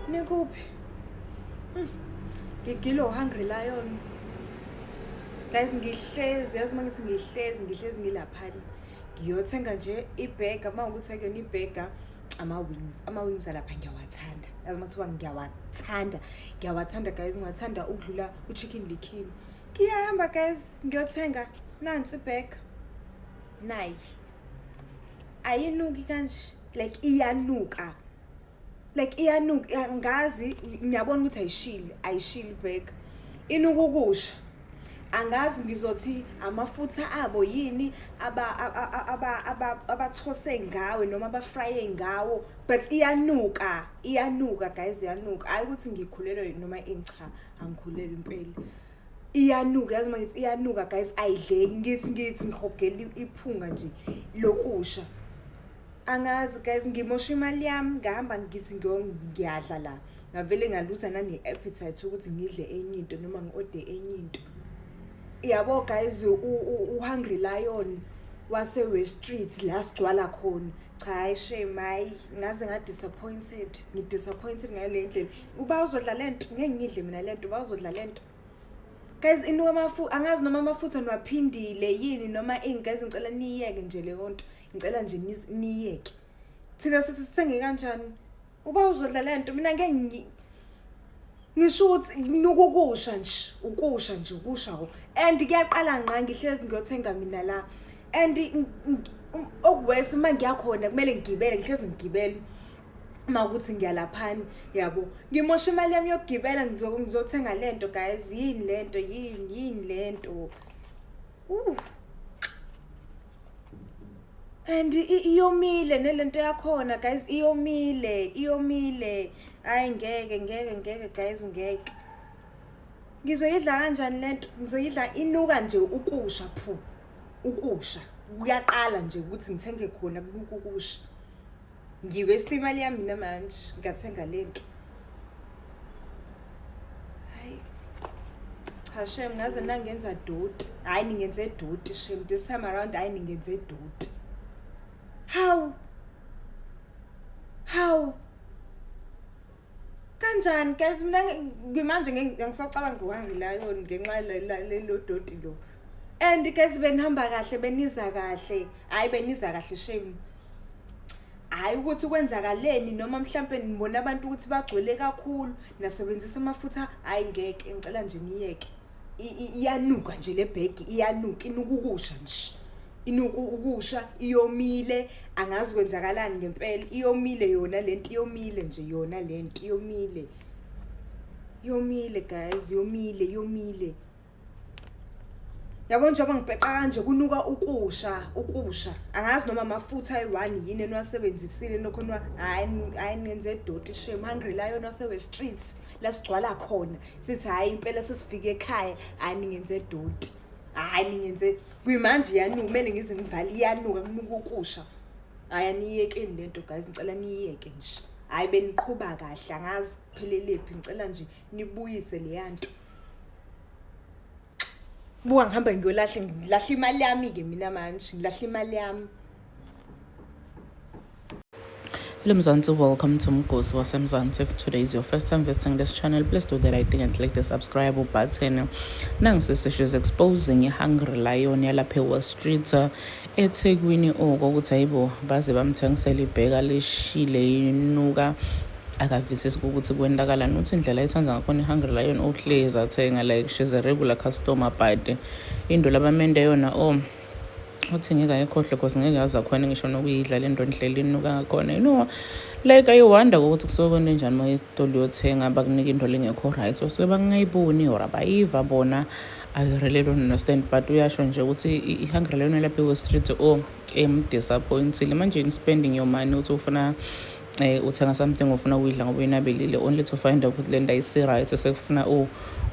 Nikuphi? Hmm. Ngigilo hungry lion. Guys ngihlezi yazi uma ngithi ngihlezi ngihlezi ngilaphani. Ngiyothenga nje ibhega uma ukuthi akuyona ibhega ama-wings ama-wings alapha ngiyawathanda yazi uma kuthiwa ngiyawathanda ngiyawathanda guys ngiwathanda ukudlula u-chicken likhini ngiyahamba guys ngiyothenga nansi ibhega nayi ayinuki kanje like iyanuka like iyanuka ngazi ngiyabona ukuthi ayishili ayishili back inuka ukusha angazi ngizothi amafutha abo yini abathose ngawe noma abafraye ngawo but iyanuka iyanuka guys iyanuka hayi ukuthi ngikhulelwe noma incha angikhulelwe impela iyanuka yazi uma ngithi iyanuka guys ayidleki ngisi ngithi ngihogela iphunga nje lokusha angazi guys ngimosha imali yami ngihamba ngithi ngiyadla la ngavele ngaluza nane-appetite ukuthi ngidle enye into noma ngi-ode enye into yabo guys uhungry lion wase-west street la sigcwala khona cha hayi shame hayi ngaze nga-disappointed ngi-disappointed ngale ndlela uba uzodla le nto ngeke ngidle mina le nto uba uzodla le nto guys inuka amafu angazi noma amafutha niwaphindile yini noma ini guys ngicela niyeke nje leyo nto ngicela nje niyeke thina sithi sithenge kanjani uba uzodla le nto mina ngeke ngisho ukuthi nuka ukusha nje ukusha nje ukusha ko and kuyaqala ngqa ngihlezi ngiyothenga mina la and um, okuwesi uma ngiyakhona kumele ngigibele ngihlezi ngigibele uma ukuthi ngiyalaphani yabo ngimosha imali yami yokugibela ngizothenga le nto guys yini le nto yini yini le nto uh. and iyomile nelento yakhona guys iyomile iyomile hayi ngeke ngeke ngeke guys ngeke ngizoyidla kanjani le nto ngizoyidla inuka nje ukusha phu ukusha kuyaqala nje ukuthi ngithenge khona kunuka ukusha ngiwesta imali yami mina manje ngathenga le nto hayi cha shem ngaze nangenza doti hayi ningenze doti shem this time around hayi ningenze doti how how kanjani guys mina ngimanje ngisacabanga ngiwangile layo ngenxa lelo doti lo and guys benihamba kahle beniza kahle hayi beniza kahle shame hayi ukuthi kwenzakaleni noma mhlampe nibona abantu ukuthi bagcwele kakhulu nasebenzisa amafutha hayi ngeke ngicela nje niyeke iyanuka nje le bhegi iyanuka inuka ukusha nje inuka ukusha iyomile angazi kwenzakalani ngempela iyomile yona lento iyomile nje yona lento iyomile yomile guys yomile yomile yabona njengoba ngibheqa kanje kunuka ukusha ukusha angazi noma amafutha ayi-one yini eniwasebenzisile nokho hayi hayi nenze edoti shame hungry lion wasewe-streets la sigcwala khona sithi hhayi impela sesifike ekhaya hhayi ningenze doti hhayi ningenze kuyimanje iyanuka kumele ngize ngivale iyanuka kunuka ukusha hhayi aniyiyekeni le nto guys ngicela niyiyeke nje hhayi beniqhuba kahle angazi phelelephi ngicela nje nibuyise leya nto Buka ngihamba ngiyolahle ngilahle imali yami ke mina manje ngilahle imali yami Hello Mzansi, welcome to Mgosi waseMzansi. If today is your first time visiting this channel, please do the right thing and click the subscribe button. Nangisisi she's exposing i-Hungry Lion yalapha eWall Street eThekwini oko ukuthi hayibo baze bamthengisela ibheka lishile inuka Akavisisi ukuthi kwentakalani uthi indlela ayithanda ngakhona ihungry lion uhlezi athenga like she's a regular customer but into labamende yona o oh, uthi ngeke ayikhohlwe cause ngeke aze akhone ngisho nokuyidla le nto ndlela inuka ngakhona you know like ayiwanda kokuthi kusuke kwento enjani uma itolo uyothenga bakunika into lengekho right so suke bakungayiboni or abayiva bona I really don't understand but uyasho nje ukuthi i-hungry leyona lapha kwe-street o emdisappointile manje in spending your money uthi ufuna Eh uthenga something ufuna ukuyidla ngoba uyinabelile only to find out ukuthi lento ayisi right sekufuna u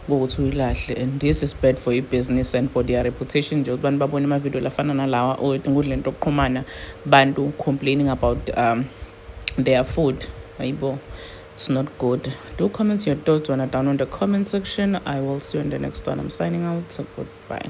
ukuthi uyilahle and this is bad for i-business and for their reputation nje ukuthi abantu babone amavidiyo lafana nalawa or inkundla into okuxhumana bantu complaining about um, their food ayibo it's not good do comment your thoughts when i down on the comment section i will see you in the next one i'm signing out so goodbye